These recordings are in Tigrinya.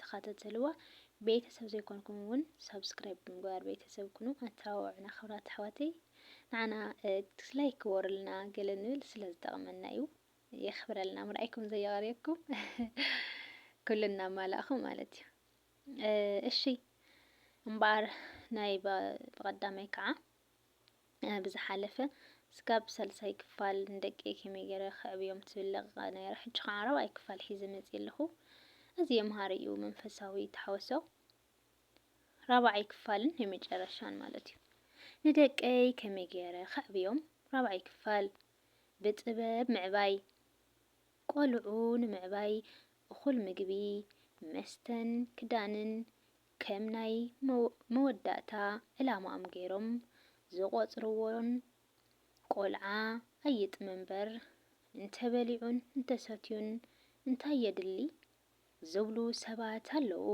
ተኻታተልዋ ቤተሰብ ዘይኮንኩም ውን ሳብስክራይብ ብምግባር ቤተሰብ ኩኑ ኣተባብዑና ክብራት ኣሕዋተይ ንዓና ዲስላይክ ክበሩልና ገለ ንብል ስለ ዝጠቕመና እዩ የኽብረልና ምርኣይኩም ዘየቐርየኩም ኩሉ እናማላእኹም ማለት እዩ እሺ እምበኣር ናይ ብቐዳማይ ከዓ ብዝሓለፈ ስጋብ ሳልሳይ ክፋል ንደቀይ ከመይ ገረ ከዕብዮም ትብል ለቂቀ ነረ ሕጂ ከዓ ራብዓይ ክፋል ሒዘ መጽየ ኣለኩ ኣዝየ መሃሪ እዩ መንፈሳዊ ተሓወሶ ራብዓይ ክፋልን ናይ መጨረሻን ማለት እዩ ንደቀይ ከመይ ገረ ከዕብዮም ራብዓይ ክፋል ብጥበብ ምዕባይ ቆልዑ ንምዕባይ እኩል ምግቢ መስተን ክዳንን ከም ናይ መወዳእታ ዕላማኦም ገይሮም ዝቖጽርዎን ቆልዓ ኣይጥመ እምበር እንተበሊዑን እንተሰትዩን እንታይ የድሊ ዝብሉ ሰባት ኣለዉ።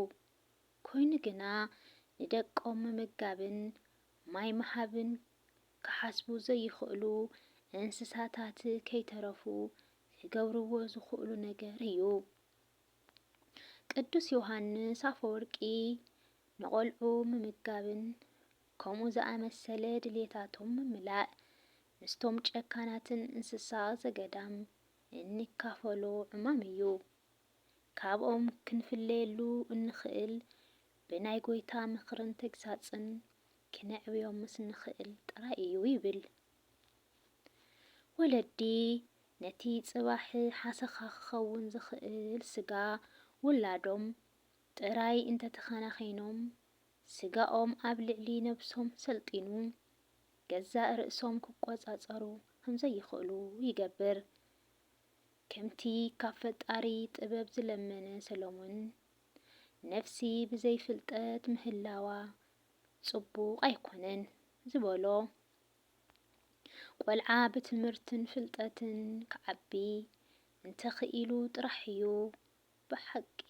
ኮይኑ ግና ንደቆም ምምጋብን ማይ ምሃብን ክሓስቡ ዘይኽእሉ እንስሳታት ከይተረፉ ክገብርዎ ዝኽእሉ ነገር እዩ። ቅዱስ ዮሓንስ ኣፈወርቂ ንቖልዑ ምምጋብን ከምኡ ዝኣመሰለ ድልየታቶም ምምላእ ምስቶም ጨካናትን እንስሳ ዘገዳም እንካፈሎ ዕማም እዩ። ካብኦም ክንፍለየሉ እንኽእል ብናይ ጐይታ ምኽርን ተግሳጽን ክነዕብዮም ምስ ንኽእል ጥራይ እዩ ይብል። ወለዲ ነቲ ጽባሕ ሓሰኻ ክኸውን ዝኽእል ስጋ ውላዶም ጥራይ እንተተኸናኺኖም፣ ስጋኦም ኣብ ልዕሊ ነብሶም ሰልጢኑ ገዛእ ርእሶም ክቆጻጸሩ ከምዘይኽእሉ ይገብር። ከምቲ ካብ ፈጣሪ ጥበብ ዝለመነ ሰሎሞን፣ ነፍሲ ብዘይ ፍልጠት ምህላዋ ጽቡቕ ኣይኮነን ዝበሎ፣ ቆልዓ ብትምህርትን ፍልጠትን ክዓቢ እንተኽኢሉ ጥራሕ እዩ ብሓቂ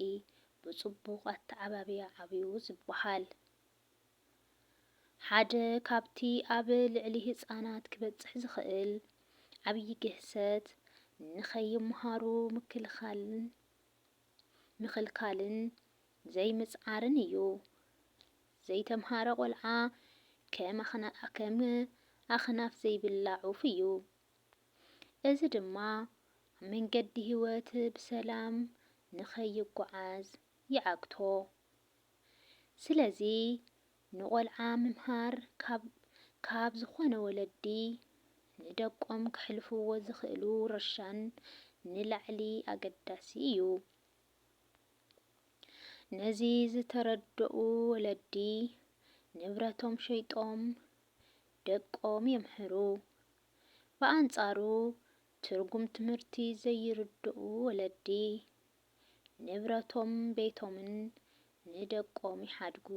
ብፅቡቕ ኣተዓባብያ ዓብዩ ዝበሃል። ሓደ ካብቲ ኣብ ልዕሊ ህፃናት ክበፅሕ ዝኽእል ዓብዪ ግህሰት ንኸይምሃሩ ምክልኻልን ምኽልካልን ዘይምጽዓርን እዩ። ዘይተምሃረ ቆልዓ ከም ኣኽናፍ ዘይብላ ዑፍ እዩ። እዚ ድማ ኣብ መንገዲ ህይወት ብሰላም ንኸይጎዓዝ ይዓግቶ። ስለዚ ንቆልዓ ምምሃር ካብ ካብ ዝኾነ ወለዲ ንደቆም ከሕልፍዎ ዝኽእሉ ውርሻን ንላዕሊ ኣገዳሲ እዩ። ነዚ ዝተረደኡ ወለዲ ንብረቶም ሸይጦም ደቆም የምህሩ። ብኣንጻሩ ትርጉም ትምህርቲ ዘይርድኡ ወለዲ ንብረቶም ቤቶምን ንደቆም ይሓድጉ።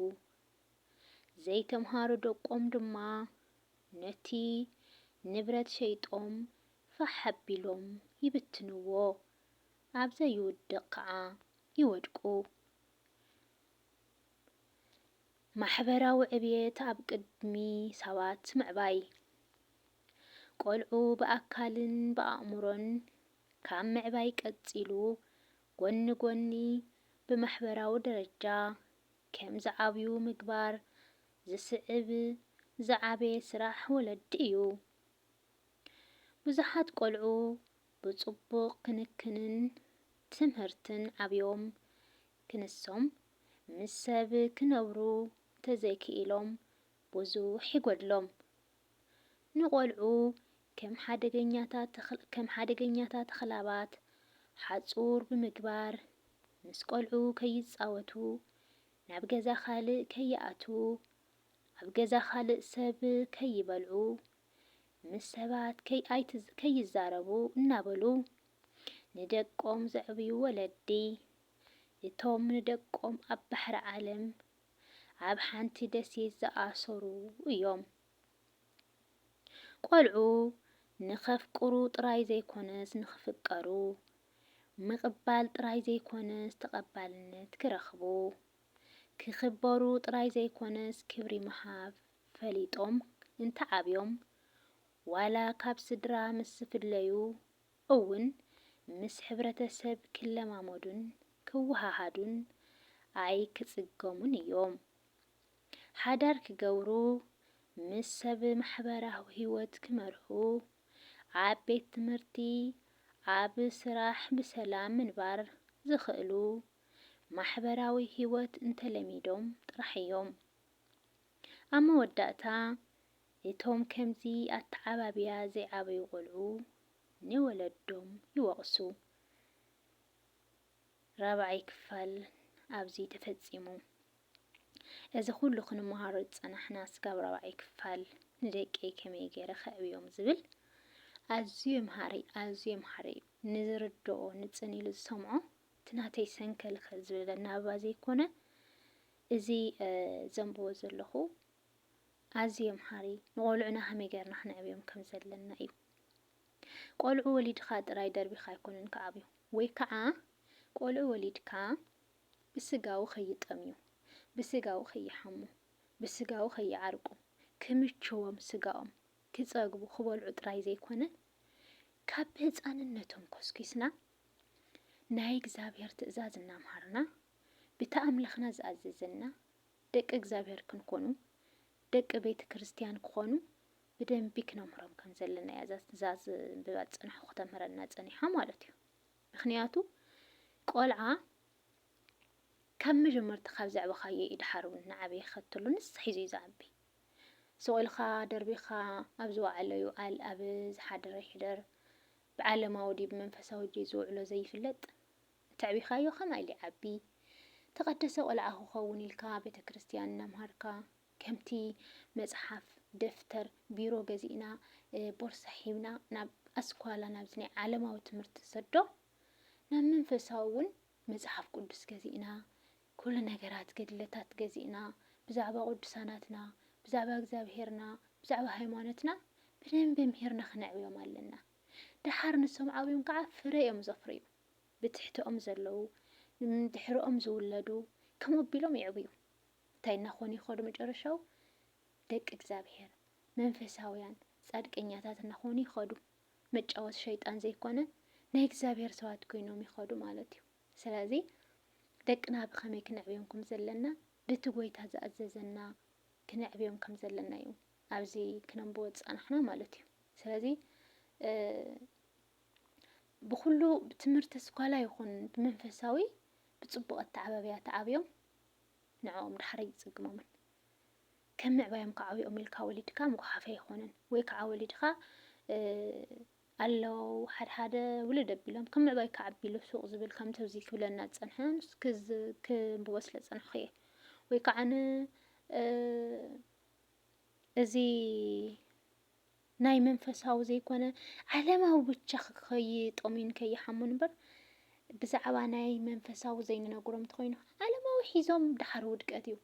ዘይተምሃሩ ደቆም ድማ ነቲ ንብረት ሸይጦም ፋሕ ኣቢሎም ይብትንዎ፣ ኣብ ዘይውድቕ ከኣ ይወድቁ። ማሕበራዊ ዕብየት ኣብ ቅድሚ ሰባት ምዕባይ። ቆልዑ ብኣካልን ብኣእምሮን ካብ ምዕባይ ቀጺሉ ጎኒ ጎኒ ብማሕበራዊ ደረጃ ከም ዝዓብዩ ምግባር ዝስዕብ ዝዓበየ ስራሕ ወለዲ እዩ። ብዙሓት ቆልዑ ብጽቡቕ ክንክንን ትምህርትን ዓብዮም ክንሶም ምስ ሰብ ክነብሩ እንተዘይክኢሎም ብዙሕ ይጎድሎም። ንቆልዑ ከም ሓደገኛታ ተኽላባት ሓፁር ብምግባር ምስ ቆልዑ ከይፃወቱ፣ ናብ ገዛ ካልእ ከይኣትዉ፣ ኣብ ገዛ ካልእ ሰብ ከይበልዑ፣ ምስ ሰባት ከይዛረቡ እናበሉ ንደቆም ዘዕብዩ ወለዲ እቶም ንደቆም ኣብ ባሕሪ ዓለም ኣብ ሓንቲ ደሴት ዝኣሰሩ እዮም። ቆልዑ ንኸፍቅሩ ጥራይ ዘይኮነስ ንኽፍቀሩ፣ ምቕባል ጥራይ ዘይኮነስ ተቐባልነት ክረኽቡ፣ ክኽበሩ ጥራይ ዘይኮነስ ክብሪ ምሃብ ፈሊጦም እንተዓብዮም ዋላ ካብ ስድራ ምስ ዝፍለዩ እውን ምስ ሕብረተሰብ ክለማመዱን ክወሃሃዱን ኣይክጽገሙን እዮም። ሓዳር ክገብሩ፣ ምስ ሰብ ማሕበራዊ ህይወት ክመርሑ፣ ኣብ ቤት ትምህርቲ፣ ኣብ ስራሕ ብሰላም ምንባር ዝኽእሉ ማሕበራዊ ህይወት እንተለሚዶም ጥራሕ እዮም። ኣብ መወዳእታ እቶም ከምዚ ኣተዓባብያ ዘይዓበዩ ቆልዑ ንወለዶም ይወቕሱ። ራብዓይ ክፋል ኣብዚ ተፈጺሙ። እዚ ኩሉ ክንመሃሮ ዝጸናሕናስ ካብ ራብዓይ ክፋል ንደቀይ ከመይ ገይረ ከዕብዮም ዝብል ኣዝዩ መሃሪ ኣዝዩ መሃሪ እዩ። ንዝርድኦ ንጽን ኢሉ ዝሰምዖ እቲ ናተይ ሰንከልከል ዝብል ኣናብባ ዘይኮነ እዚ ዘንብቦ ዘለኹ ኣዝዩ መሃሪ እዩ። ንቆልዑና ከመይ ገርና ክነዕብዮም ከም ዘለና እዩ። ቆልዑ ወሊድካ ጥራይ ደርቢካ ኣይኮነን ክዓብዩ ወይ ክዓ ቆልዑ ወሊድካ ብስጋዊ ከይጠምዩ፣ ብስጋዊ ከይሓሙ፣ ብስጋዊ ከይዓርቁ፣ ክምችዎም ስጋኦም፣ ክጸግቡ፣ ክበልዑ ጥራይ ዘይኮነ ካብ ብህጻንነቶም ኮስኪስና ናይ እግዚኣብሔር ትእዛዝ እናምሃርና ብቲ ኣምላኽና ዝኣዘዘና ደቂ እግዚኣብሔር ክንኮኑ ደቂ ቤት ክርስትያን ክኾኑ ብደንቢ ክነምህሮም ከም ዘለና እያ እዛ ዝንብባ ዝጸናሕኩ ክተምህረና ጸኒሓ ማለት እዩ ምክንያቱ ቆልዓ ካብ መጀመርታ ካብ ዘዕበኻዮ እዩ ድሓር እውን ንዓበየ ከተሎ ንሳ ሒዙ እዩ ዝዓቢ ስቑኢልካ ደርቢኻ ኣብ ዝወዓሎ ይውዓል ኣብ ዝሓደረ ይሕደር ብዓለማዊ ድዩ ብመንፈሳዊ ድዩ ዝውዕሎ ዘይፍለጥ ተዕቢኻዮ ከማይ ሊዓቢ ተቀደሰ ቆልዓ ክኸውን ኢልካ ቤተክርስትያን እናምሃርካ ከምቲ መጽሓፍ ደፍተር ቢሮ ገዚእና ቦርሳ ሒብና ናብ ኣስኳላ ናብዚ ናይ ዓለማዊ ትምህርቲ ንሰዶ ናብ መንፈሳዊ እውን መጽሓፍ ቅዱስ ገዚእና ኩሉ ነገራት ገድለታት ገዚእና ብዛዕባ ቅዱሳናትና ብዛዕባ እግዚኣብሄርና ብዛዕባ ሃይማኖትና ብደንቢ ምሂርና ክነዕብዮም ኣለና ደሓር ንሶም ዓብዮም ከዓ ፍረ እዮም ዘፍርዩ። ብትሕተኦም ዘለዉ፣ ድሕረኦም ዝውለዱ ከምኡ ኣቢሎም ይዕብዩ። እንታይ እናኾኑ ይኸዱ መጨረሻኡ? ደቂ እግዚኣብሔር፣ መንፈሳውያን፣ ጻድቀኛታት እናኾኑ ይኸዱ። መጫወቲ ሸይጣን ዘይኮነ ናይ እግዚኣብሔር ሰባት ኮይኖም ይኸዱ ማለት እዩ። ስለዚ ደቅና ብኸመይ ክነዕብዮም ከም ዘለና በቲ ጎይታ ዝኣዘዘና ክነዕብዮም ከም ዘለና እዩ ኣብዚ ክነንብቦ ዝጸናሕና ማለት እዩ። ስለዚ ብኹሉ ብትምህርቲ ስኳላ ይኹን ብመንፈሳዊ ብጽቡቕ ኣተዓባብያ ተዓብዮም ንዕኦም ድሓር ኣይጽግሞምን ከም ምዕባዮም ክዓብኦም ኢልካ ወሊድካ ምጉሓፈ ኣይኮነን ወይ ከዓ ወሊድካ ኣለው ሓድሓደ ውልድ ኣቢሎም ከም ምዕባይ ክዓቢሉ ሱቕ ዝብል ከምቲ እዚ ክብለና ዝጸንሐ ክብዎ ስለ ዝጸንሕኩ እየ ወይ ከዓ እዚ ናይ መንፈሳዊ ዘይኮነ ዓለማዊ ብቻ ከይጠሙዩን ከይሓሙን እምበር ብዛዕባ ናይ መንፈሳዊ ዘይንነግሮም እንተኾይኑ ዓለማዊ ሒዞም ድሓር ውድቀት እዩ።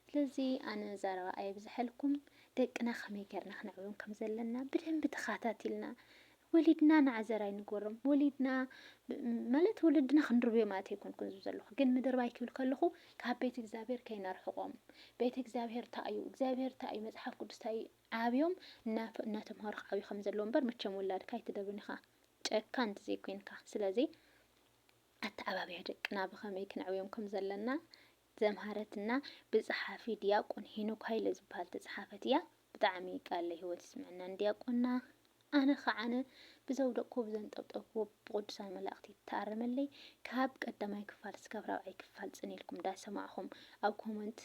ስለዚ ኣነ ዛረባ ኣየብዝሐልኩም ደቅና ከመይ ገርና ክነዕብዮም ከም ዘለና ብደንቢ ተኻታቲልና ወሊድና ንዓዘራይ ንግበሮም ወሊድና ማለት ወለድና ክንርብዮ ማለት ኣይኮንኩን ዝብ ዘለኹ ግን ምድርባይ ክብል ከለኹ ካብ ቤት እግዚኣብሔር ከይነርሕቆም ቤት እግዚኣብሔር እንታይ እዩ እግዚኣብሔር እንታይ እዩ መፅሓፍ ቅዱስ እንታይ እዩ ዓብዮም ናተምሃሩ ክዓብዩ ከም ዘለዎም እምበር መቸም ውላድካ ኣይትደብርን ኢኻ ጨካን እንተዘይ ኮይንካ ስለዚ ኣተዓባብያ ደቅና ብኸመይ ክነዕብዮም ከም ዘለና ዘምሃረትና ብጸሓፊ ድያቆን ሄኖክ ሃይለ ዝበሃል ተጸሓፈት እያ ብጣዕሚ ቃለ ህይወት ይስመዐና ንድያቆንና ኣነ ኸዓነ ብዘውደቅኩዎ ብዘንጠብጠብኩዎ ብቕዱሳን መላእኽቲ ይተኣረመለይ። ካብ ቀዳማይ ክፋል እስካብ ራብዓይ ክፋል ጽን ኢልኩም እንዳሰማዕኹም ኣብ ኮመንት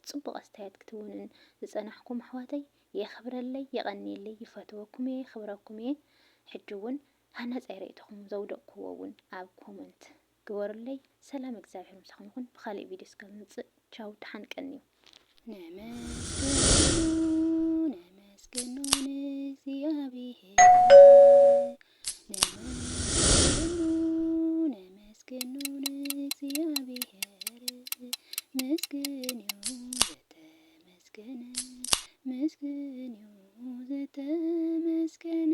ጽቡቕ ኣስተያየት ክትውንን ዝጸናሕኩም ኣሕዋተይ የኽብረለይ የቐንየለይ ይፈትወኩም እየ የኽብረኩም እየ። ሕጂ እውን ሃናጻይ ርእይቶኹም ዘውደቅኩዎ እውን ኣብ ኮመንት ግበሩለይ ሰላም እግዚኣብሔር ምሳኹም ይኹን ብኻሊእ ቪድዮ እስከምምፅእ ቻው ድሓን ቀንዩ። ነመስግኖ ነመስግኖ ንእግዚኣብሔር ነመስግኖ ነመስግኖ ንእግዚኣብሔር ምስግን እዩ ዘተመስገነ ምስግን እዩ ዘተመስገነ